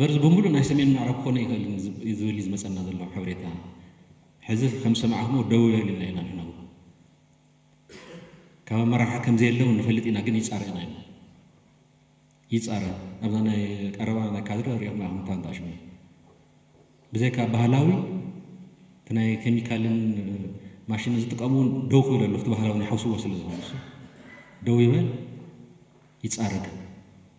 መርዚ ብምሉእ ናይ ሰሜን ምዕራብ ክኾን ኣይክእልን ዝብል እዩ ዝመጸና ዘሎ ሓበሬታ። ሕዚ ከም ዝሰማዕክሞ ደው በል ኢልና ኢና ንሕና እውን። ካብ ኣመራርሓ ከም ዘየለ እውን ንፈልጥ ኢና ግን ይጻረ ኢና ኢልና። ይጻረ ኣብዛ ናይ ቀረባ ናይ ካድረ ሪኢኹም ኢኹም እኳ እንተ ኣሽሙ ብዘይካ ባህላዊ እቲ ናይ ኬሚካልን ማሽንን ዝጥቀሙ እውን ደው ክብል ኣሎ እቲ ባህላዊ ናይ ሓውስዎ ስለ ዝኾነ ደው ይበል ይጻረ ግን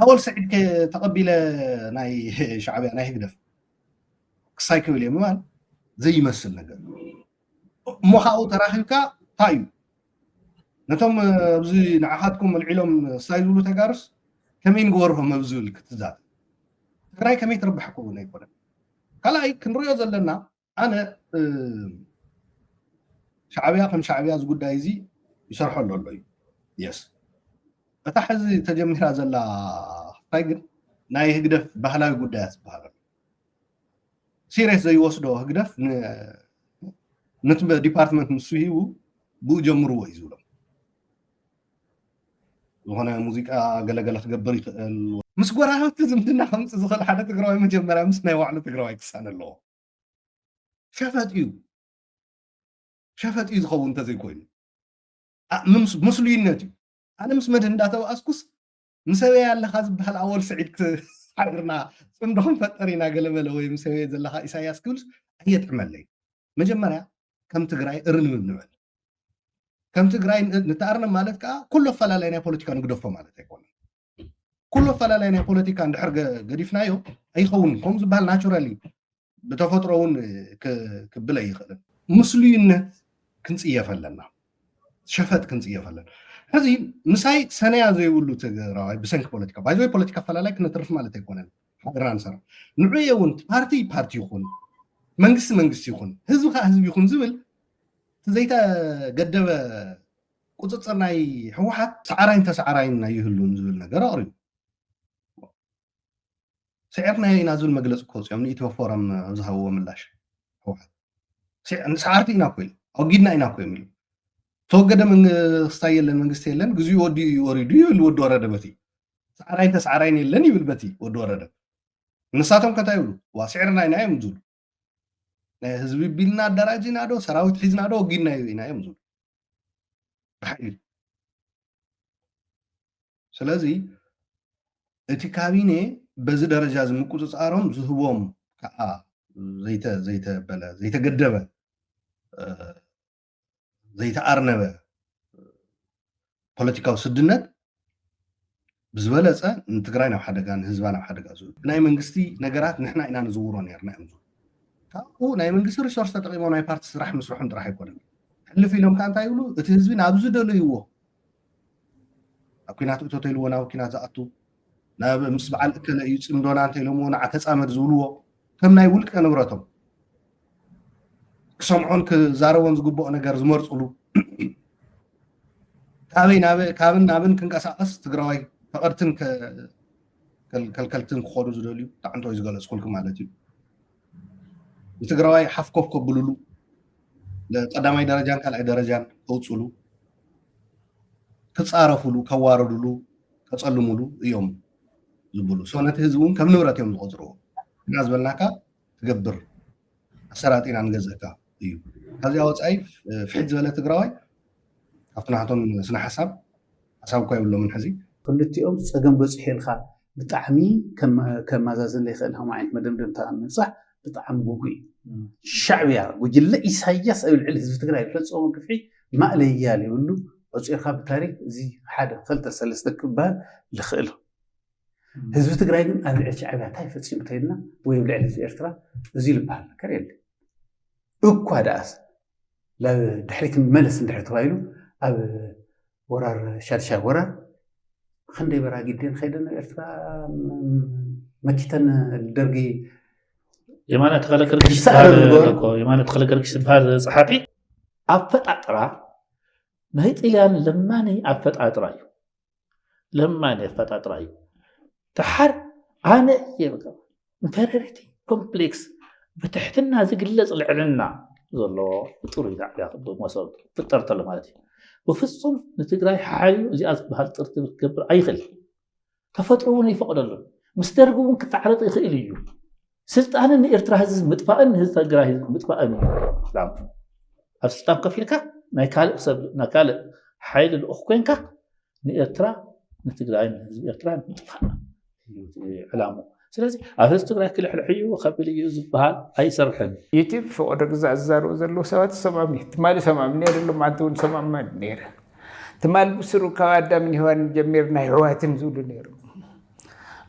ኣወል ስዒድ ከ ተቐቢለ ናይ ሻዕብያ ናይ ህግደፍ ክሳይ ክብል እየ ምባል ዘይመስል ነገር እሞ ካብኡ ተራኺብካ እንታይ እዩ ነቶም ኣብዚ ንዓኻትኩም ኣልዒሎም ክሳይ ዝብሉ ተጋርስ ከመይ ንግበርሆም ኣብ ዝብል ክትዛት ትግራይ ከመይ ትርብሐኩም ኣይኮነን ካልኣይ ክንሪኦ ዘለና ኣነ ሻዕብያ ከም ሻዕብያ እዚ ጉዳይ እዚ ይሰርሐሉ ኣሎ እዩ የስ እታ ሕዚ ተጀሚራ ዘላ ክፋይ ግን ናይ ህግደፍ ባህላዊ ጉዳያት ዝበሃል ኣሎ ሲሪየስ ዘይወስዶ ህግደፍ ነቲ ዲፓርትመንት ንሱ ሂቡ ብኡ ጀምርዎ እዩ ዝብሎም ዝኾነ ሙዚቃ ገለገለ ክገብር ይኽእል ምስ ጎረባብቲ ዝምድና ከምፅ ዝኽእል ሓደ ትግራዋይ መጀመርያ ምስ ናይ ባዕሉ ትግራዋይ ክሳነ ኣለዎ ሸፈጥ እዩ ሸፈጥ እዩ ዝኸውን እንተዘይኮይኑ ምስሉይነት እዩ ኣነ ምስ መድህ እንዳተባኣስኩስ ምሰበያ ኣለካ ዝበሃል ኣወል ስዒድ ሓቢርና ፅምዶ ክንፈጠር ኢና ገለመለ ወይ ምሰበየ ዘለካ ኢሳያስ ክብልስ ኣየጥዕመለይ መጀመርያ ከም ትግራይ እርንብ ንበል ከም ትግራይ ንተኣርነ ማለት ከዓ ኩሉ ኣፈላላይ ናይ ፖለቲካ ንግደፎ ማለት ኣይኮነን ኩሉ ኣፈላላይ ናይ ፖለቲካ እንድሕር ገዲፍናዮ ኣይኸውንን ከምኡ ዝበሃል ናቹራሊ ብተፈጥሮ እውን ክብል ኣይኽእልን ምስሉይነት ክንፅየፍ ኣለና ሸፈጥ ክንፅየፍ ኣለና ሕዚ ምሳይ ሰነያ ዘይብሉ ትግራዋይ ብሰንኪ ፖለቲካ ባይዘወይ ፖለቲካ ኣፈላላይ ክነትርፍ ማለት ኣይኮነን ሓድራ ንሰራ ንዑየ እውን ፓርቲ ፓርቲ ይኹን መንግስቲ መንግስቲ ይኹን ህዝቢ ከዓ ህዝቢ ይኹን ዝብል ዘይተገደበ ቁፅፅር ናይ ህወሓት ሰዓራይን ተሰዓራይን ኣይህሉን ዝብል ነገር ኣቕሪቡ ስዒርናዮ ኢና ዝብል መግለፂ ክወፅኦም ንኢትዮ ፎረም ዝሃብዎ ምላሽ ህወሓት ሰዓርቲ ኢና እኮ ኢሉ ኣወጊድና ኢና እኮ ኢሉ ተወገደ መንግስታ የለን መንግስቲ የለን ግዚኡ ወዲ እዩ ወሪዱ ይብል ወዲ ወረደ በቲ ሰዓራይን ተሰዓራይን የለን ይብል በቲ ወዲ ወረደ ንሳቶም ከታይ ይብሉ ዋ ስዕርና ኢና እዮም ዝብሉ ናይ ህዝቢ ቢልና ኣደራጂና ዶ ሰራዊት ሒዝና ዶ ወጊድናዮ ኢና እዮም ዝብሉ ብሓይሊ ስለዚ እቲ ካቢነ በዚ ደረጃ እዚ ምቁፅፃሮም ዝህቦም ከዓ ዘይተበለ ዘይተገደበ ዘይተኣርነበ ፖለቲካዊ ስድነት ብዝበለፀ ንትግራይ ናብ ሓደጋ ንህዝባ ናብ ሓደጋ ዝብ ናይ መንግስቲ ነገራት ንሕና ኢና ንዝውሮ ነርና እዮም ዝብ ካብኡ ናይ መንግስቲ ሪሶርስ ተጠቂሞ ናይ ፓርቲ ስራሕ ምስርሖም ጥራሕ ኣይኮነን ሕልፍ ኢሎም ከዓ እንታይ ይብሉ እቲ ህዝቢ ናብ ዝደለይዎ ኣብ ኩናት እቶተልዎ ናብ ኩናት ዝኣቱ ናብ ምስ በዓል እከለ እዩ ፅምዶና እንተኢሎምዎ ንዓ ተፃመድ ዝብልዎ ከም ናይ ውልቀ ንብረቶም ክሰምዖን ክዛረቦን ዝግብኦ ነገር ዝመርፅሉ ካበይ ካብን ናብን ክንቀሳቀስ ትግራዋይ ፈቐድትን ከልከልትን ክኾኑ ዝደልዩ ጣዕንቶይ ዝገለፅኩልኩም ማለት እዩ ንትግራዋይ ሓፍ ኮፍ ከብልሉ ቀዳማይ ደረጃን ካልኣይ ደረጃን ከውፅሉ ክፃረፍሉ ከዋርድሉ ከፀልሙሉ እዮም ዝብሉ ሰው ነቲ ህዝቢ እውን ከም ንብረት እዮም ዝቆፅርዎ እና ዝበልናካ ትገብር ኣሰራጢና ንገዘካ እዩ ካብዚኣ ወፃኢ ፍሒት ዝበለ ትግራዋይ ካብቲ ናቶም ስነ ሓሳብ ሓሳብ እኳ የብሎምን ሕዚ ክልቲኦም ፀገም በፂሑ ኢልካ ብጣዕሚ ከማዛዝን ዘይክእል ከም ዓይነት መደምደምታ ምብፃሕ ብጣዕሚ ጉጉይ እዩ ሻዕብያ ጉጅለ ኢሳያስ ኣብ ልዕሊ ህዝቢ ትግራይ ዝፈፀሞ ግፍዒ ማእለያ ዘይብሉ ኦፂርካ ብታሪክ እዚ ሓደ ክልተ ሰለስተ ክበሃል ዝኽእል ህዝቢ ትግራይ ግን ኣብ ልዕሊ ሻዕብያ እንታይ ፈፂሙ ተይልና ወይ ኣብ ልዕሊ ህዝቢ ኤርትራ እዚ ዝበሃል ነገር የለ እኳ ደኣስ ድሕሪት መለስ እንድሕር ተባሂሉ ኣብ ወራር ሻድሻይ ወራር ብክንደይ በራጊደን ከይደን ኤርትራ መኪተን ደርጊ የማነ ተኸለ ገርግሽ የማነ ተኸለ ገርግሽ ዝበሃል ፀሓፊ ኣፈጣጥራ ናይ ጥልያን ለማኒ ኣፈጣጥራ እዩ ለማኒ ኣፈጣጥራ እዩ ተሓር ኣነ እየ ንተረርቲ ኮምፕሌክስ ብትሕትና ዝግለጽ ልዕልና ዘለዎ ፍጡር እዩ ዛዕብያ ክብ መሶብ ፍጠር ተሎ ማለት እዩ ብፍጹም ንትግራይ ሓዩ እዚኣ ዝበሃል ጥርቲ ክትገብር ኣይኽእል ተፈጥሮ እውን ይፈቕደሉን ምስ ደርጊ እውን ክተዓረቕ ይኽእል እዩ ስልጣንን ንኤርትራ ህዝቢ ምጥፋእን ንህዝቢ ትግራይ ህዝቢ ምጥፋእን እዩ ኣብ ስልጣን ከፊልካ ናይ ካልእ ሰብ ናይ ካልእ ሓይሊ ልኡኽ ኮንካ ንኤርትራ ንትግራይ ንህዝቢ ኤርትራ ምጥፋእ ዕላሙ ስለዚ ኣብ ህዝቢ ትግራይ ክልሕልሕ እዩ ከብል እዩ ዝበሃል ኣይሰርሕን ዩቲብ ፈቀዶ ግዛእ ዝዛረቡ ዘለዉ ሰባት ሰማም እዩ ትማሊ ሰማም ነይሩ ማንቲ እውን ሰማም ነይረ ትማሊ ብስሩ ካብ ኣዳምን ሄዋን ጀሚርና ሕዋትን ዝብሉ ነይሩ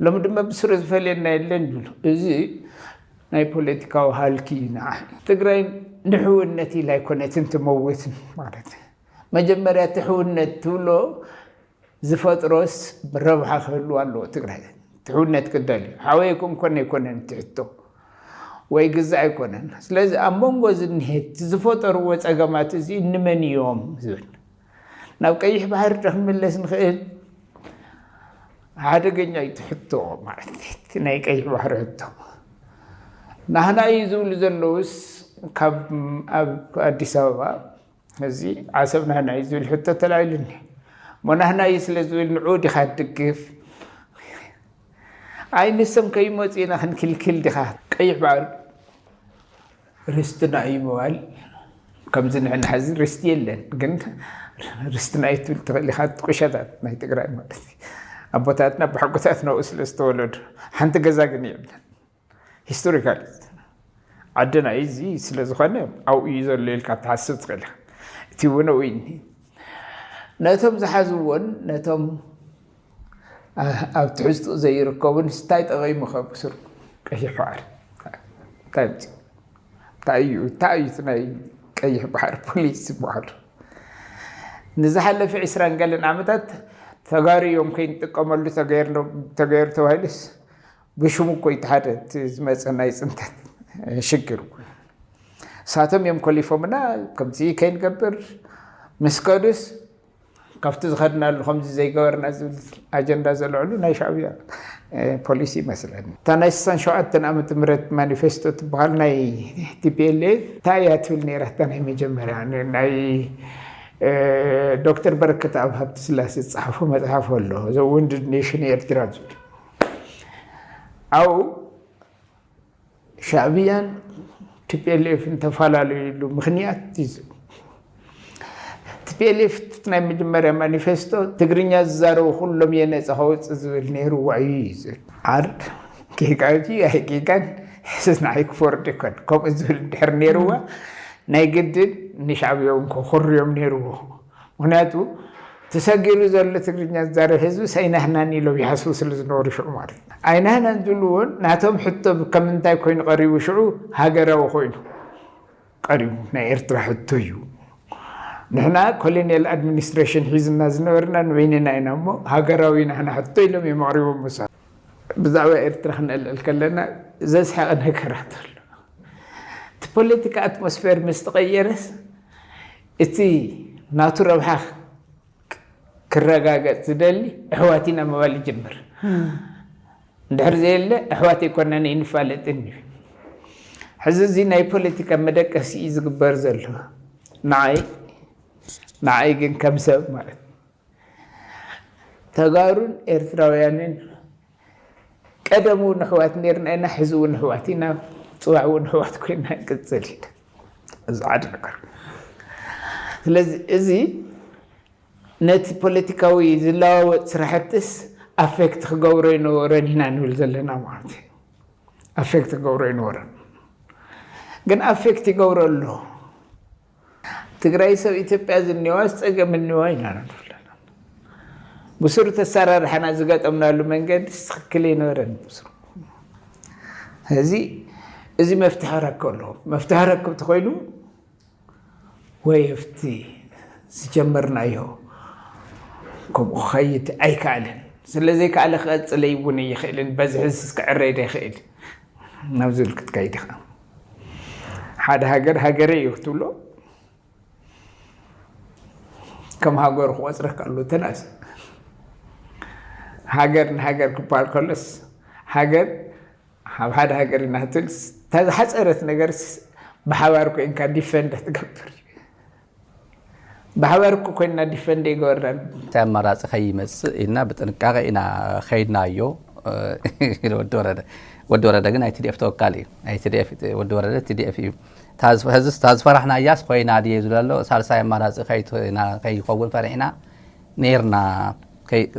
ሎሚ ድማ ብስሩ ዝፈልየና የለን ይብሉ እዚ ናይ ፖለቲካዊ ሃልኪ እዩ ንዓ ትግራይ ንሕውነት ኢላ ኣይኮነትን ትመውት ማለት መጀመርያ እቲ ሕውነት ትብሎ ዝፈጥሮስ ረብሓ ክህልዋ ኣለዎ ትግራይ ትሕውነት ክደልዩ ሓወይ ክንኮነ ኣይኮነን እቲ ሕቶ ወይ ግዛ ኣይኮነን ስለዚ ኣብ መንጎ ዝንሄት ዝፈጠርዎ ፀገማት እዚ እንመን እዮም ዝብል ናብ ቀይሕ ባሕሪ ዶ ክንምለስ ንኽእል ሓደገኛ እዩ እቲ ሕቶ ማለት እቲ ናይ ቀይሕ ባሕሪ ሕቶ ናህና እዩ ዝብሉ ዘለውስ ካብ ኣብ ኣዲስ ኣበባ እዚ ዓሰብ ናህና እዩ ዝብል ሕቶ ተላኢሉኒ እሞ ናህና እዩ ስለ ዝብል ንዑ ዲኻ ትድግፍ ኣይ ንሶም ከይመፁ ኢና ክንክልክል ዲኻ ቀይሕ ባሕሪ ርስትና እዩ ምባል ከምዚ ንሕና ሕዚ ርስቲ የለን ግን ርስትና እዩ ትብል ትኽእል ኢኻ ቁሸታት ናይ ትግራይ ማለት ኣቦታትና ብሓጎታትና ስለ ዝተወለዱ ሓንቲ ገዛ ግን የብለን ሂስቶሪካል ዓድና እዩ እዚ ስለ ዝኾነ ኣብኡ እዩ ዘሎ ኢልካ ትሓስብ ትኽእል ኢኻ እቲ እውን ኣብኡ እዩ ነቶም ዝሓዝዎን ነቶም ኣብ ትሕዝትኡ ዘይርከቡን እንታይ ጠቒሙ ከብስሩ ቀይሕ ባሕሪ እንታይ ምፅ እንታይ እዩ እንታይ እዩ ናይ ቀይሕ ባሕሪ ፖሊስ ዝበሃሉ ንዝሓለፈ ዕስራን ገለን ዓመታት ተጋሩ እዮም ከይንጥቀመሉ ተገይሩ ተባሂሉስ ብሽሙ እኮ እቲ ሓደ እቲ ዝመፀ ናይ ፅንተት ሽግር እሳቶም እዮም ኮሊፎምና ከምዚ ከይንገብር ምስ ከዱስ ካብቲ ዝኸድናሉ ከምዚ ዘይገበርና ዝብል ኣጀንዳ ዘልዕሉ ናይ ሻዕብያ ፖሊሲ ይመስለኒ እታ ናይ ስሳን ሸውዓተን ዓመተ ምህረት ማኒፌስቶ ትበሃል ናይ ቲፒኤልኤፍ እንታይ እያ ትብል ነይራ እታ ናይ መጀመርያ ናይ ዶክተር በረከት ኣብ ሃብቲ ስላሴ ዝፀሓፎ መፅሓፍ ኣሎ ዘ ውንድድ ኔሽን ኤርትራ ዝብል ዓው ሻዕብያን ቲፒኤልኤፍን ተፈላለዩሉ ምክንያት እዩ። ቲፒኤልኤፍ ናይ መጀመርያ ማኒፌስቶ ትግርኛ ዝዛረቡ ኩሎም እየ ነፃ ከወፅእ ዝብል ነይሩ ዋዩ እዩ ዝብል ዓርድ ጌጋ እዩ ኣይ ጌጋን ሕስስ ንዓይ ክፈርድ ይኮን ከምኡ ዝብል ድሕር ነይርዋ ናይ ግድን ንሻዕብያውን ከኩርዮም ነይርዎ ምኽንያቱ ተሰጊሩ ዘሎ ትግርኛ ዝዛረብ ህዝቢ ሰይናህናን ኢሎም ይሓስቡ ስለ ዝነበሩ ሽዑ ማለት እዩ። ኣይናህናን ዝብሉ እውን ናቶም ሕቶ ከም እንታይ ኮይኑ ቀሪቡ ሽዑ ሃገራዊ ኮይኑ ቀሪቡ ናይ ኤርትራ ሕቶ እዩ። ንሕና ኮሎኒያል ኣድሚኒስትሬሽን ሒዝና ዝነበርና ንበይንና ኢና እሞ ሃገራዊ ናህና ሕቶ ኢሎም እዮም ኣቕሪቦም ምሳ ብዛዕባ ኤርትራ ክነልዕል ከለና ዘስሐቐ ነገራት ኣሎ። እቲ ፖለቲካ ኣትሞስፌር ምስ ተቐየረስ እቲ ናቱ ረብሓ ክረጋገጽ ዝደሊ ኣሕዋት ኢና ምባል ይጅምር። እንድሕር ዘየለ ኣሕዋት ኣይኮናን ኣይንፋለጥን እዩ። ሕዚ እዚ ናይ ፖለቲካ መደቀሲ እዩ ዝግበር ዘሎ ንዓይ ንዓይ ግን ከም ሰብ ማለት ተጋሩን ኤርትራውያንን ቀደም እውን ኣሕዋት ነርና ኢና፣ ሕዚ እውን ኣሕዋት ኢና፣ ፅባሕ እውን ኣሕዋት ኮይና ንቅፅል ኢና። እዚ ሓደ ነገር። ስለዚ እዚ ነቲ ፖለቲካዊ ዝለዋወጥ ስራሕትስ ኣፌክት ክገብሮ ይነበረን ኢና ንብል ዘለና ማለት እዩ። ኣፌክት ክገብሮ ይነበረን ግን ኣፌክት ይገብሮ ኣሎ። ትግራይ ሰብ ኢትዮጵያ ዝኒዋስ ፀገም እኒዋ ኢና ንብለና ብሱር ተሰራርሐና ዝገጠምናሉ መንገዲ ትክክል ይነበረን ብሱር እዚ እዚ መፍትሒ ክረክብ ኣለዎ መፍትሒ ክረክብ ተኮይኑ ወይ ኣብቲ ዝጀመርናዮ ከምኡ ክኸይድ ኣይከኣልን ስለዘይከኣለ ክቐፅለ ይውን ይኽእልን በዝሕስ ክዕረይ ዶ ይኽእል ናብ ዝብል ክትከይድ ኢኻ ሓደ ሃገር ሃገረይ እዩ ክትብሎ ከም ሃገሩ ክቆፅረካ ኣሎ ተናስ ሃገር ንሃገር ክበሃል ከሎስ ሃገር ኣብ ሓደ ሃገር ኢና ክትብል እታ ዝሓፀረት ነገርስ ብሓባር ኮይንካ ዲፈንድ ትገብር ብሓባር እኮ ኮይንና ዲፈንድ ኣይገበርናን። እቲ ኣማራፂ ከይመፅእ ኢልና ብጥንቃቐ ኢና ከይድናዮ ኢሉ ወዲ ወረደ። ወዲ ወረደ ግን ናይ ቲዲኤፍ ተወካሊ እዩ። ናይ ቲዲኤፍ ወዲ ወረደ ቲዲኤፍ እዩ። እታ ዝፈራሕናያስ ኮይና ድየ ዝብለሎ ሳልሳይ ኣማራፂ ከይኮውን ፈሪሕና ኔርና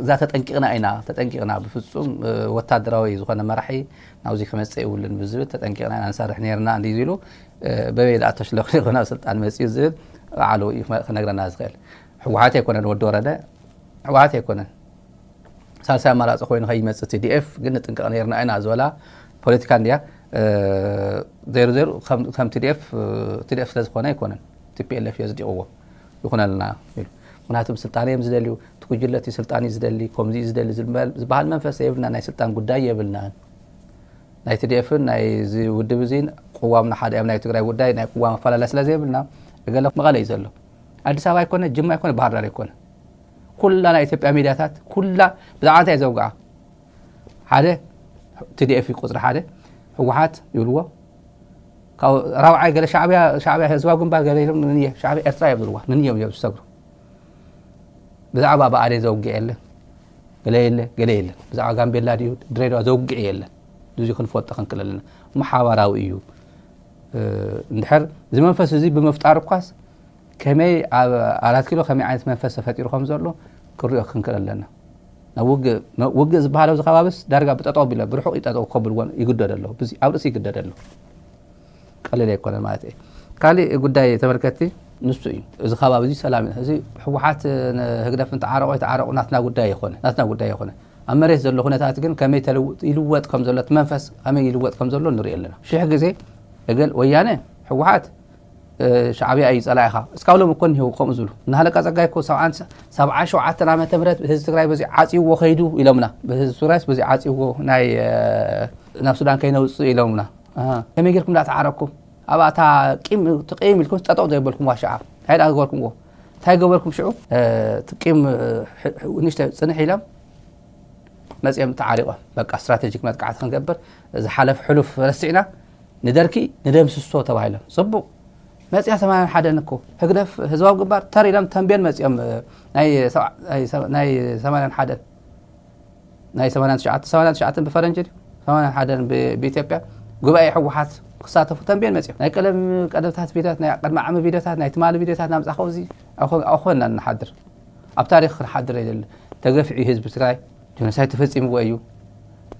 እዛ ተጠንቂቕና ኢና ተጠንቂቕና ብፍጹም ወታደራዊ ዝኾነ መራሒ ናብዚ ክመጽእ ይብሉን ብዝብል ተጠንቂቕና ኢና ንሰርሕ ኔርና እንዲ ዝሉ በበይ ዳኣ ተሽለኽሊኹ ናብ ስልጣን መጽዩ ዝብል በዓሉ እዩ ክነግረና ዝኽእል ሕወሓት ኣይኮነን ወዲ ወረደ ሕወሓት ኣይኮነን ሳልሳይ ኣማራፂ ኮይኑ ከይመፅ ቲዲኤፍ ግን ንጥንቀቕ ነርና ኢና ዝበላ ፖለቲካ እንድያ ዜሩ ዜሩ ከም ቲዲኤፍ ቲዲኤፍ ስለዝኾነ ኣይኮነን ቲፒኤልኤፍ እዮ ዝዲቕዎ ይኹነልና ኢሉ። ምኽንያቱ ብስልጣን እዮም ዝደልዩ፣ እቲ ጉጅለ እቲ ስልጣን እዩ ዝደሊ፣ ከምዚ እዩ ዝደሊ ዝበሃል መንፈስ የብልናን፣ ናይ ስልጣን ጉዳይ የብልናን። ናይ ትዲኤፍን ናይዚ ውድብ እዚን ቅዋምና ሓደ እዮም፣ ናይ ትግራይ ጉዳይ ናይ ቅዋም ኣፈላላይ ስለ ዘይብልና እገለ መቐለ እዩ ዘሎ፣ ኣዲስ ኣበባ ኣይኮነ፣ ጅማ ኣይኮነ፣ ባህርዳር ኣይኮነ ኩላ ናይ ኢትዮጵያ ሚድያታት ኩላ ብዛዕባ እንታይ ዘውግዓ ሓደ tdf እዩ ቁፅሪ ሓደ ህወሓት ይብልዎ ካብኡ ራብዓይ ገለ ሻዕብያ ሻዕብያ ህዝባዊ ግንባር ገለ ኢሎም ንንየ ሻዕብያ ኤርትራ እዮም ዝብልዋ ንንዮም እዮም ዝሰግሩ ብዛዕባ ብኣዴ ዘውግዕ የለን ገለ የለ ገለ የለን ብዛዕባ ጋምቤላ ድዩ ድሬዳዋ ዘውግዕ የለን እዚ ክንፈልጦ ክንክል ኣለና እሞ ሓባራዊ እዩ እንድሕር እዚ መንፈስ እዚ ብምፍጣር እኳስ ከመይ ኣብ ኣራት ኪሎ ከመይ ዓይነት መንፈስ ተፈጢሩ ከም ዘሎ ክንሪኦ ክንክእል ኣለና። ናብ ውግእ ውግእ ዝበሃል ኣብዚ ከባቢስ ዳርጋ ብጠጠው ቢሎ ብርሑቕ ይጠጠው ከብልዎ ይግደዱ ኣለዉ። ብዙ ኣብ ርእሲ ይግደድ ኣሎ። ቀሊል ኣይኮነን ማለት እዩ። ካሊእ ጉዳይ ተመልከቲ ንሱ እዩ። እዚ ከባቢ እዚ ሰላም እዩ። እዚ ህወሓት ህግደፍን ተዓረቑ ኣይተዓረቑ ናትና ጉዳይ ኣይኮነ ናትና ጉዳይ ኣይኮነ ኣብ መሬት ዘሎ ኩነታት ግን ከመይ ተልውጥ ይልወጥ ከም ዘሎ እቲ መንፈስ ከመይ ይልወጥ ከም ዘሎ ንሪኦ ኣለና። ሽሕ ግዜ እገል ወያነ ህወሓት ሻዕብያ እዩ ጸላኢኻ እስካብ ሎም እኮ እኒሄው ከምኡ ዝብሉ እና ሃለቃ ጸጋይ እኮ ሰብዓ ሸውዓተን ዓመተ ምህረት ህዝቢ ትግራይ በዚ ዓጽይዎ ከይዱ ኢሎምና ህዝቢ ትግራይስ በዚ ዓጽይዎ ናይ ናብ ሱዳን ከይነውጽእ ኢሎምና ከመይ ጌርኩም ዳ ተዓረኩም ኣብኣ እታ ቂም ትቀይም ኢልኩም ጠጠቕ ዘይበልኩም ዋሻዓ እንታይ ዳ ዝበልኩምዎ እንታይ ገበርኩም ሽዑ ትቂም ንሽተ ፅንሕ ኢሎም መፅኦም ተዓሪቖም በቃ ስትራቴጂክ መጥቃዕቲ ክንገብር ዝሓለፍ ሕሉፍ ረሲዕና ንደርኪ ንደምስሶ ተባሂሎም ጽቡቅ መጽያ ሰማንያን ሓደን እኮ ህግደፍ ህዝባዊ ግንባር ተር ኢሎም ተንቤን መጽኦም ናይ ሰማንያን ሓደን ናይ ሰማንያን ትሽዓተ ሰማንያን ትሽዓተን ብፈረንጂ ድዩ ሰማንያን ሓደን ብኢትዮጵያ ጉባኤ ሕወሓት ክሳተፉ ተንቤን መጽኦም ናይ ቀለም ቀደምታት ቪድዮታት ናይ ቅድሚ ዓሚ ቪድዮታት ናይ ትማሊ ቪድዮታት ናምጻኸው እዚ ኣኾና ንሓድር ኣብ ታሪክ ክንሓድር የለ ተገፊዑ ህዝቢ ትግራይ ጆኖሳይድ ተፈፂምዎ እዩ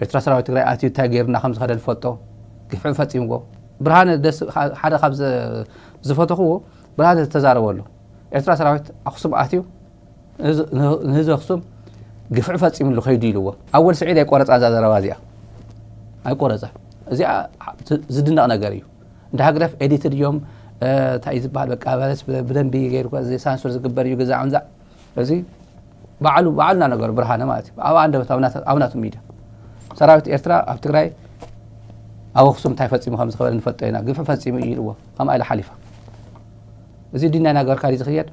ኤርትራ ሰራዊት ትግራይ ኣትዩ እንታይ ገይሩ እና ከም ዝኸደ ንፈልጦ ግፍዒ ፈፂምዎ ብርሃነ ደስ ሓደ ካብ ዝፈተኽዎ ብርሃነ ዝተዛረቦ ኣሎ ኤርትራ ሰራዊት ኣክሱም ኣትዩ ንህዝቢ ኣክሱም ግፍዒ ፈፂምሉ ከይዱ ኢልዎ ኣብ ወዲ ስዒድ ኣይቆረፃ እዛ ዘረባ እዚኣ ኣይቆረፃ እዚኣ ዝድነቕ ነገር እዩ እንደ ሃግደፍ ኤዲትድ እዮም እንታይ ዝበሃል በቃ በለስ ብደንቢ ገይሩ ሳንሱር ዝግበር እዩ ግዛ ዕንዛ እዚ ባዕሉ ባዕሉ እናነገሩ ብርሃነ ማለት እዩ ኣብ ኣንደበት ኣብ ናቱ ሚድያ ሰራዊት ኤርትራ ኣብ ትግራይ ኣብ ኣክሱም እንታይ ፈፂሙ ከም ዝኸበለ ንፈልጦ ኢና ግፍዒ ፈፂሙ እዩ ኢልዎ ከምኣ ኢለ ሓሊፋ እዚ ድና ናገርካ ድዩ ዝኽየድ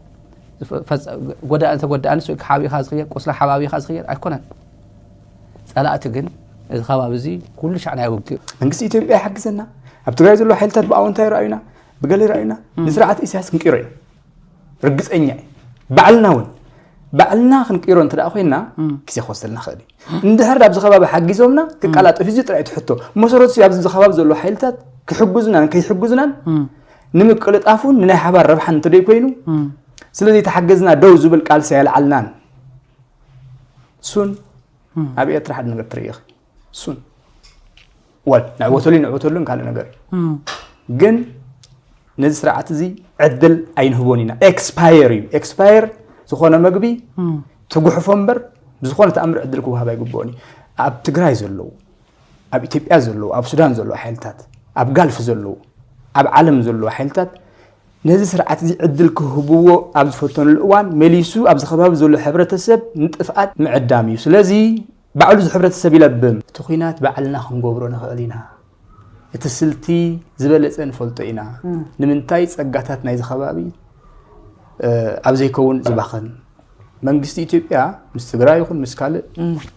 ጎዳእን ተጎዳእንስ ወይ ሓቢእኻ ዝኽየድ ቁስላ ሓባቢኻ ዝኽየድ ኣይኮነን ፀላእቲ ግን እዚ ከባቢ እዚ ኩሉ ሻዕ ናይ ውግእ መንግስቲ ኢትዮጵያ ይሓግዘና ኣብ ትግራይ ዘሎ ሓይልታት ብኣወንታ ይረኣዩና ብገለ ይረኣዩና ንስርዓት ኢሳያስ ክንቅይሮ ኢና ርግፀኛ እዩ ባዕልና እውን ባዕልና ክንቅይሮ እንተ ኮይና ግዜ ክወስደልና ክእል እዩ እንድሕር ኣብዚ ከባቢ ሓጊዞምና ክቀላጠፍ እዚ ጥራይ ትሕቶ መሰረቱ ኣብዚ ከባቢ ዘሎ ሓይልታት ክሕግዙናን ከይሕግዙናን ንምቅልጣፉን ንናይ ሓባር ረብሓን እንተደይ ኮይኑ ስለዚ ተሓገዝና ደው ዝብል ቃልሲ ኣየልዓልናን እሱን ኣብ ኤርትራ ሓደ ነገር ትርኢ እሱን ወል ንዕወተሉ ንዕወተሉን ካልእ ነገር እዩ ግን ነዚ ስርዓት እዚ ዕድል ኣይንህቦን ኢና ኤክስፓየር እዩ ኤክስፓየር ዝኾነ መግቢ ትጉሕፎ እምበር ብዝኾነ ተኣምር ዕድል ክወሃብ ኣይግብኦን እዩ ኣብ ትግራይ ዘለዉ ኣብ ኢትዮጵያ ዘለዉ ኣብ ሱዳን ዘለዉ ሓይልታት ኣብ ጋልፍ ዘለዉ ኣብ ዓለም ዘለዉ ሓይልታት ነዚ ስርዓት እዚ ዕድል ክህብዎ ኣብ ዝፈተኑሉ እዋን መሊሱ ኣብዚ ከባቢ ዘሎ ሕብረተሰብ ንጥፍኣት ምዕዳም እዩ ስለዚ ባዕሉ እዚ ሕብረተሰብ ይለብም። እቲ ኹናት ባዕልና ክንገብሮ ንኽእል ኢና። እቲ ስልቲ ዝበለፀ ንፈልጦ ኢና። ንምንታይ ፀጋታት ናይዚ ከባቢ ኣብ ዘይከውን ዝባኸን መንግስቲ ኢትዮጵያ ምስ ትግራይ ይኹን ምስ ካልእ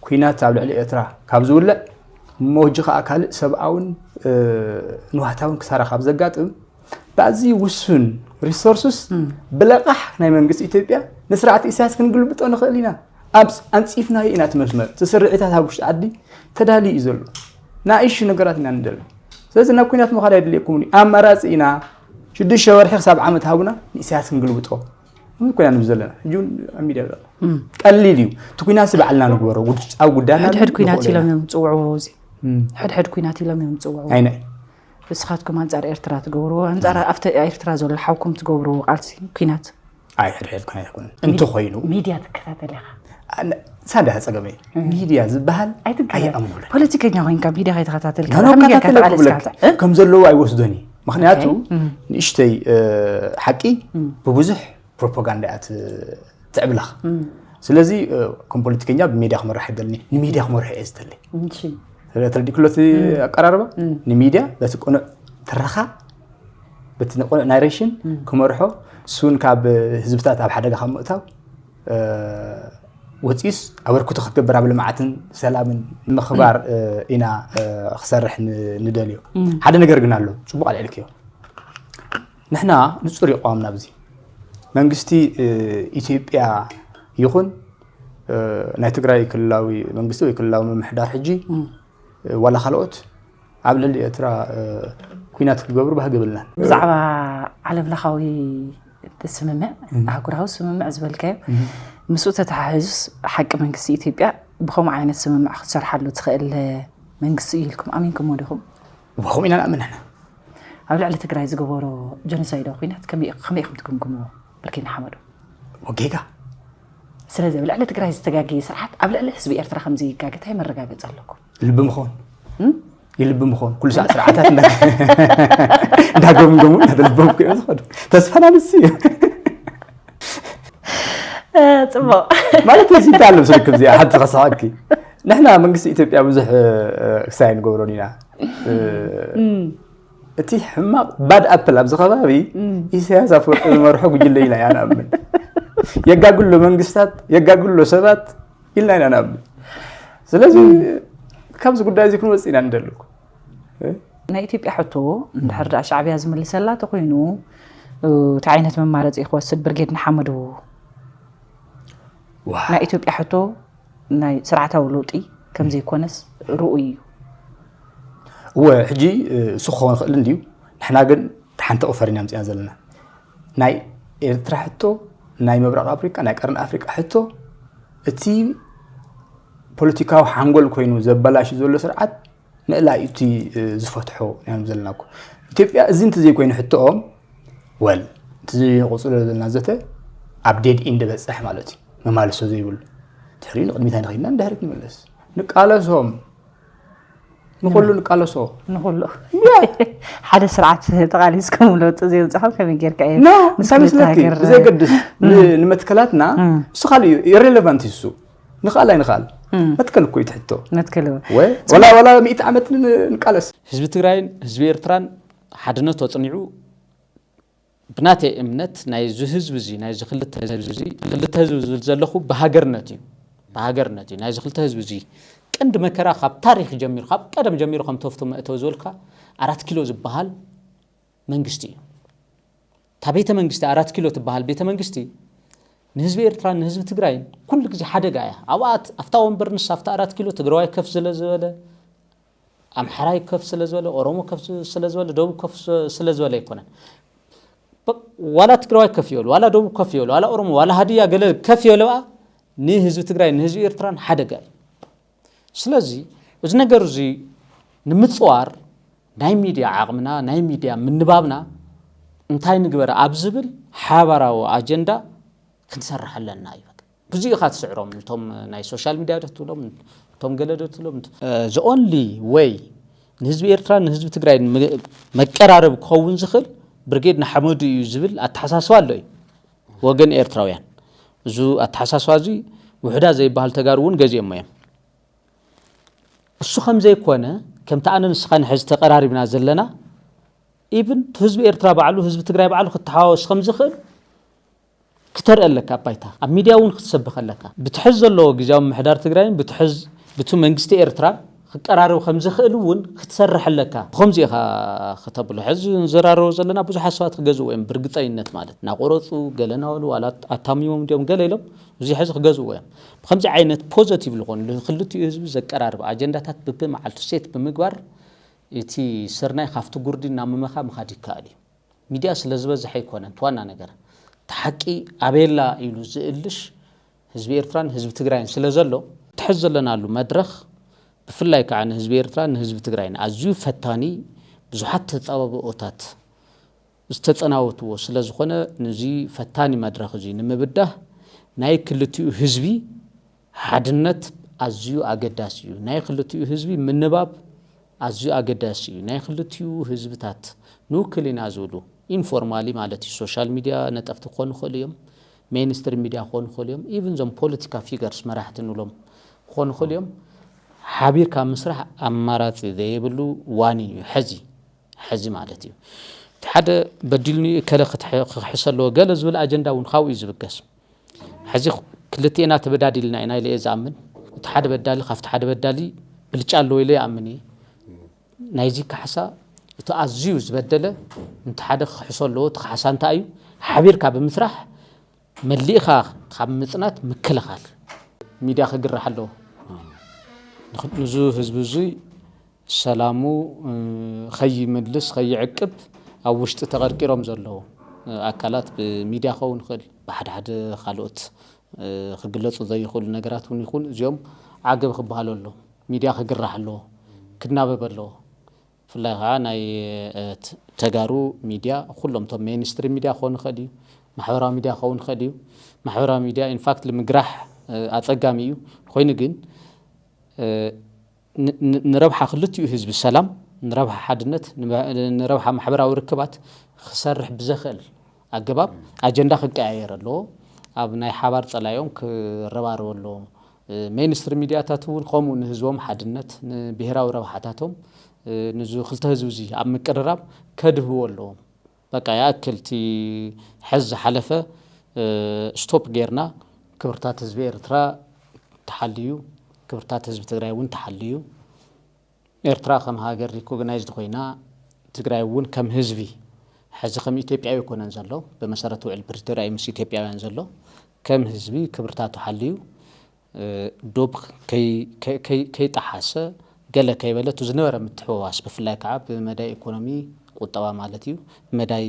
ኩናት ኣብ ልዕሊ ኤርትራ ካብ ዝውልዕ እሞ ሕጂ ከዓ ካልእ ሰብኣውን ንዋህታውን ክሳራ ካብ ዘጋጥም ብኣዝዩ ውሱን ሪሶርስስ ብለቓሕ ናይ መንግስቲ ኢትዮጵያ ንስርዓት ኢሳያስ ክንግልብጦ ንኽእል ኢና ኣብ ኣንፂፍናዮ ኢና እቲ መስመር እቲ ስርዒታት ኣብ ውሽጢ ዓዲ ተዳልዩ እዩ ዘሎ ንኣይሹ ነገራት ኢና ንደሊ ስለዚ ናብ ኩናት ምዃድ ኣይድልየኩምን እዩ ኣማራፂ ኢና ሽዱሽተ ወርሒ ክሳብ ዓመት ሃቡና ንኢሳያስ ክንግልብጦ ምን ኮይና ንብ ዘለና ሕጂ እውን ኣብ ሚድያ ዘሎ ቀሊል እዩ እቲ ኩናት ባዕልና ንግበሮ ኣብ ጉዳና ሕድሕድ ኩናት ኢሎም እዮም ዝፅውዕዎ እዚ ሕድሕድ ኩናት ኢሎም እዮም ዝፅውዕዎ ንስኻትኩም ኣንፃር ኤርትራ ትገብርዎ ኣንፃር ኣብቲ ኤርትራ ዘሎ ሓውኩም ትገብርዎ ቃልሲ ኩናት ኣይሕድሕድካ ይኹን እንተኮይኑ ሚድያ ትከታተል ኢኻ ሳዳ ፀገመይ ሚድያ ዝበሃል ኣይኣምኑለ ፖለቲከኛ ኮይንካ ሚድያ ከይተኸታተል ከም ዘለዎ ኣይወስዶን እዩ ምክንያቱ ንእሽተይ ሓቂ ብብዙሕ ፕሮፓጋንዳ እያ ትዕብላኽ ስለዚ ከም ፖለቲከኛ ብሚድያ ክመራሕ ይደልኒ ንሚድያ ክመርሑ እየ ዝደሊ ስለተረዲክሎ እቲ ኣቀራርባ ንሚድያ በቲ ቅኑዕ ትረኻ በቲ ቅኑዕ ናሬሽን ክመርሖ እሱን ካብ ህዝብታት ኣብ ሓደጋ ካብ ምእታው ወፂኡስ ኣበርክቶ ክትገብር ኣብ ልምዓትን ሰላምን ምኽባር ኢና ክሰርሕ ንደልዮ ሓደ ነገር ግን ኣሎ ፅቡቅ ኣልዕልክዮ ንሕና ንጹር እዩ ኣቕዋምና ኣብዚ መንግስቲ ኢትዮጵያ ይኹን ናይ ትግራይ ክልላዊ መንግስቲ ወይ ክልላዊ ምምሕዳር ሕጂ ዋላ ካልኦት ኣብ ልዕሊ ኤርትራ ኩናት ክገብሩ ባህጊ የብልናን። ብዛዕባ ዓለም ለኻዊ ስምምዕ ኣህጉራዊ ስምምዕ ዝበልካዮ ምስኡ ተተሓሒዙስ ሓቂ መንግስቲ ኢትዮጵያ ብከምኡ ዓይነት ስምምዕ ክትሰርሓሉ ትኽእል መንግስቲ እዩ ኢልኩም ኣሚንኩሞ ዲኹም? ከምኡ ኢና ንኣምን ንሕና። ኣብ ልዕሊ ትግራይ ዝገበሮ ጀኖሳይዳዊ ኩናት ከመይ ኢኹም ትግምግምዎ? ብርጌድ ንሓመዱ። ጌጋ ስለዚ ኣብ ልዕሊ ትግራይ ዝተጋገየ ስርዓት ኣብ ልዕሊ ህዝቢ ኤርትራ ከም ዘይጋገ እንታይ መረጋገፂ ኣለኩም? ልቢ ምኾን ይልቢ ምኾን ኩሉ ሰዓት ስርዓታት እንዳገምገሙ እንዳተለበሙ ክዮ ዝኸዱ ተስፋና ንሱ እዩ ፅቡቕ ማለት እዚ እንታይ ኣሎ ምስልክም እዚኣ ሓንቲ ከስሓቅኪ ንሕና መንግስቲ ኢትዮጵያ ብዙሕ ክሳይ ኣይንገብሮን ኢና እቲ ሕማቕ ባድ ኣፕል ኣብዚ ከባቢ ኢሳያስ ኣፈወርቂ ዝመርሖ ጉጅለ ኢና ኢና ንኣምን የጋግሎ መንግስታት የጋግሎ ሰባት ኢልና ኢና ንኣምን ስለዚ ካብዚ ጉዳይ እዚ ክንወፅ ኢና ንደልኩ ናይ ኢትዮጵያ ሕቶ እንድሕር ዳኣ ሻዕብያ ዝምልሰላ ተኮይኑ እቲ ዓይነት መማረፂ ክወስድ ብርጌድ ንሓመዱ ናይ ኢትዮጵያ ሕቶ ናይ ስርዓታዊ ለውጢ ከም ዘይኮነስ ርኡይ እዩ። እወ ሕጂ እሱ ክኸውን ይኽእል እንድዩ ንሕና ግን ሓንቲ ቁፈር ኢና ምፅና ዘለና ናይ ኤርትራ ሕቶ ናይ ምብራቕ ኣፍሪካ ናይ ቀርኒ ኣፍሪቃ ሕቶ እቲ ፖለቲካዊ ሓንጎል ኮይኑ ዘበላሽ ዘሎ ስርዓት ምእላይ እዩ እቲ ዝፈትሖ ኢና ንብ ዘለና እኮ ኢትዮጵያ እዚ እንተዘይኮይኑ ሕቶኦም ወል እቲ ዘይንቕፅሎ ዘለና ዘተ ኣብ ዴድ ኢንድ በፅሕ ማለት እዩ መማልሶ ዘይብሉ ድሕሪኡ ንቅድሚት ኣይንኸይድና ንድሕሪት ንመለስ ንቃለሶም ንኩሉ ንቃለሶ ንኩሉ ሓደ ስርዓት ተቓሊስኩም ለውጢ ዘይምፅኹም ከመይ ጌርካ እዩ ንሳ መስለኪ ብዘየገድስ ንመትከላትና እሱ ካልእ እዩ ኢሬሌቫንት እሱ ንኽኣል ኣይንኽኣል መትከል እኮ እዩ እቲ ሕቶ መትከል ወላ ሚእቲ ዓመት ንቃለስ ህዝቢ ትግራይን ህዝቢ ኤርትራን ሓድነቱ ኣፅኒዑ ብናተይ እምነት ናይዚ ህዝቢ እዚ ናይዚ ክልተ ህዝቢ እዚ ክልተ ህዝቢ ዝብል ዘለኹ ብሃገርነት እዩ ብሃገርነት እዩ ናይዚ ክልተ ህዝቢ እዚ ቀንዲ መከራ ካብ ታሪክ ጀሚሩ ካብ ቀደም ጀሚሩ ከም ተፍቶ መእተው ዝበልካ ኣራት ኪሎ ዝበሃል መንግስቲ እዩ። እታ ቤተ መንግስቲ ኣራት ኪሎ ትበሃል ቤተ መንግስቲ ንህዝቢ ኤርትራን ንህዝቢ ትግራይን ኩሉ ግዜ ሓደጋ እያ። ኣብኣ ኣብታ ወንበር ንሳ ኣብታ ኣራት ኪሎ ትግራዋይ ከፍ ስለ ዝበለ ኣምሓራይ ከፍ ስለ ዝበለ ኦሮሞ ከፍ ስለ ዝበለ ደቡብ ከፍ ስለ ዝበለ ኣይኮነን ዋላ ትግራዋይ ከፍ ይበሉ ዋላ ደቡብ ከፍ ይበሉ ዋላ ኦሮሞ ዋላ ሃድያ ገለ ከፍ ይበሉ ንህዝቢ ትግራይ ንህዝቢ ኤርትራን ሓደጋ እዩ ስለዚ እዚ ነገር እዚ ንምፅዋር ናይ ሚድያ ዓቕምና ናይ ሚድያ ምንባብና እንታይ ንግበር ኣብ ዝብል ሓባራዊ ኣጀንዳ ክንሰርሕ ኣለና እዩ ብዙ ኢኻ ትስዕሮም እቶም ናይ ሶሻል ሚድያ ዶ ትብሎም እቶም ገለ ዶ ትብሎም ዘኦንሊ ወይ ንህዝቢ ኤርትራ ንህዝቢ ትግራይ መቀራረብ ክኸውን ዝኽእል ብርጌድ ንሓመዱ እዩ ዝብል ኣተሓሳስባ ኣሎ እዩ ወገን ኤርትራውያን እዙ ኣተሓሳስባ እዙይ ውሑዳት ዘይበሃል ተጋሩ እውን ገዚኦሞ እዮም። እሱ ከምዘይኮነ ከምቲ ኣነ ንስኻን ሕዚ ተቀራሪብና ዘለና ኢብን ህዝቢ ኤርትራ ባዕሉ ህዝቢ ትግራይ ባዕሉ ክተሓዋወስ ከምዝኽእል ክተርኢ ኣለካ ኣብ ባይታ ኣብ ሚድያ እውን ክትሰብኽ ኣለካ ብትሕዝ ዘለዎ ግዜያዊ ምምሕዳር ትግራይን ብትሕዝ ብቲ መንግስቲ ኤርትራ ክቀራረብ ከም ዝኽእል እውን ክትሰርሕ ኣለካ። ብኸምዚ ኢኻ ክተብሎ። ሕዚ ንዘራረቦ ዘለና ብዙሓት ሰባት ክገዝእዎ እዮም ብርግጸይነት ማለት ናቆረጹ ገለ ናበሉ ዋላ ኣታሚሞም እንድዮም ገለ ኢሎም እዚ ሕዚ ክገዝእዎ እዮም። ብኸምዚ ዓይነት ፖዘቲቭ ዝኾኑ ንክልቲኡ ህዝቢ ዘቀራርብ ኣጀንዳታት ብብመዓልቱ ሴት ብምግባር እቲ ስርናይ ካብቲ ጉርዲ እናመመኻ ምኻድ ይከኣል እዩ። ሚድያ ስለዝበዝሐ ኣይኮነን እቲ ዋና ነገር። እቲ ሓቂ ኣበይ ኣላ ኢሉ ዝእልሽ ህዝቢ ኤርትራን ህዝቢ ትግራይን ስለ ዘሎ እቲ ሕዚ ዘለናሉ መድረኽ ብፍላይ ከዓ ንህዝቢ ኤርትራን ንህዝቢ ትግራይን ኣዝዩ ፈታኒ ብዙሓት ተፃባብኦታት ዝተፀናወትዎ ስለ ዝኾነ ንዚ ፈታኒ መድረኽ እዙይ ንምብዳህ ናይ ክልቲኡ ህዝቢ ሓድነት ኣዝዩ ኣገዳሲ እዩ። ናይ ክልቲኡ ህዝቢ ምንባብ ኣዝዩ ኣገዳሲ እዩ። ናይ ክልቲኡ ህዝብታት ንውክል ኢና ዝብሉ ኢንፎርማሊ ማለት እዩ ሶሻል ሚድያ ነጠፍቲ ክኾኑ ይኽእሉ እዮም። ሜይን ስትሪም ሚድያ ክኾኑ ይኽእሉ እዮም ኢቭን እዞም ፖለቲካ ፊገርስ መራሕቲ ንብሎም ክኾኑ ይኽእሉ እዮም። ሓቢርካ ምስራሕ ኣማራጺ ዘይብሉ ዋኒን እዩ ሐዚ ሐዚ ማለት እዩ እቲ ሓደ በዲልኒ እከለ ክክሕሰ ኣለዎ ገለ ዝብል ኣጀንዳ እውን ካብኡ እዩ ዝብገስ ሐዚ ክልቴና ተበዳዲልና ኢና ኢለ እየ ዝኣምን እቲ ሓደ በዳሊ ካብቲ ሓደ በዳሊ ብልጫ ኣለዎ ኢለ ይኣምን እየ ናይዚ ካሕሳ እቲ ኣዝዩ ዝበደለ እንተ ሓደ ክክሕሶ ኣለዎ እቲ ካሕሳ እንታይ እዩ ሓቢርካ ብምስራሕ መሊእኻ ካብ ምጽናት ምክልኻል። ሚድያ ክግራሕ ኣለዎ ንዙ ህዝቢ እዙይ ሰላሙ ከይምልስ ከይዕቅብ ኣብ ውሽጢ ተቀርቂሮም ዘለዉ ኣካላት ብሚድያ ክኸውን ይኽእል ብሓድሓደ ካልኦት ክግለጹ ዘይኽእሉ ነገራት ውን ይኹን እዚኦም ዓገብ ክበሃሉ ኣሎም። ሚድያ ክግራሕ ኣለዎ። ክናበብ ኣለዎ። ብፍላይ ኸዓ ናይ ተጋሩ ሚድያ ኹሎም እቶም ሜይንስትሪም ሚድያ ክኾን ይኽእል እዩ። ማሕበራዊ ሚድያ ክኸውን ይኽእል እዩ። ማሕበራዊ ሚድያ ኢንፋክት ንምግራሕ ኣፀጋሚ እዩ። ኾይኑ ግን ንረብሓ ክልቲኡ ህዝቢ ሰላም፣ ንረብሓ ሓድነት፣ ንረብሓ ማሕበራዊ ርክባት ክሰርሕ ብዘኽእል ኣገባብ ኣጀንዳ ክቀያየር ኣለዎ። ኣብ ናይ ሓባር ጸላኢኦም ክረባረቡ ኣለዎም። ሜይንስትሪም ሚድያታት እውን ከምኡ ንህዝቦም ሓድነት፣ ንብሄራዊ ረብሓታቶም፣ ንዚ ክልተ ህዝቢ እዚ ኣብ ምቅርራብ ከድህብዎ ኣለዎም። በቃ ይኣክል እቲ ሐዚ ዝሓለፈ ስቶፕ ጌርና ክብርታት ህዝቢ ኤርትራ ተሓልዩ ክብርታት ህዝቢ ትግራይ እውን ተሓልዩ ኤርትራ ከም ሃገር ሪኮግናይዝድ ኮይና ትግራይ እውን ከም ህዝቢ ሐዚ ከም ኢትዮጵያዊ ኣይኮነን ዘሎ ብመሰረት ውዕል ፕሪቶሪያ ምስ ኢትዮጵያውያን ዘሎ ከም ህዝቢ ክብርታቱ ሓልዩ ዶብ ከይጠሓሰ ገለ ከይበለ እቲ ዝነበረ ምትሕውዋስ ብፍላይ ከዓ ብመዳይ ኢኮኖሚ ቁጠባ ማለት እዩ ብመዳይ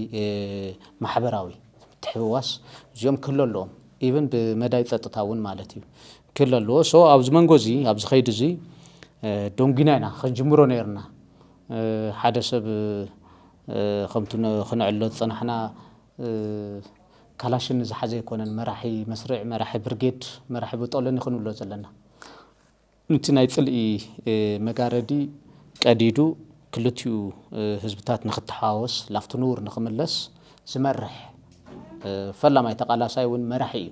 ማሕበራዊ ምትሕውዋስ እዚኦም ክህሉ ኣለዎም ኢቭን ብመዳይ ፀጥታ እውን ማለት እዩ ክህሉ ኣለዎ ሶ ኣብዚ መንጎ እዚ ኣብዚ ከይዲ እዚ ደንጒና ኢና ክንጅምሮ ነይርና ሓደ ሰብ ከምቲ ክነዕሎ ዝፀናሕና ካላሽን ዝሓዘ ኣይኮነን መራሒ መስርዕ መራሒ ብርጌድ መራሒ ብጦለኒ ክንብሎ ዘለና ንቲ ናይ ጽልኢ መጋረዲ ቀዲዱ ክልቲኡ ህዝብታት ንክተሓዋወስ ላፍቲ ንቡር ንክምለስ ዝመርሕ ፈላማይ ተቃላሳይ ውን መራሒ እዩ።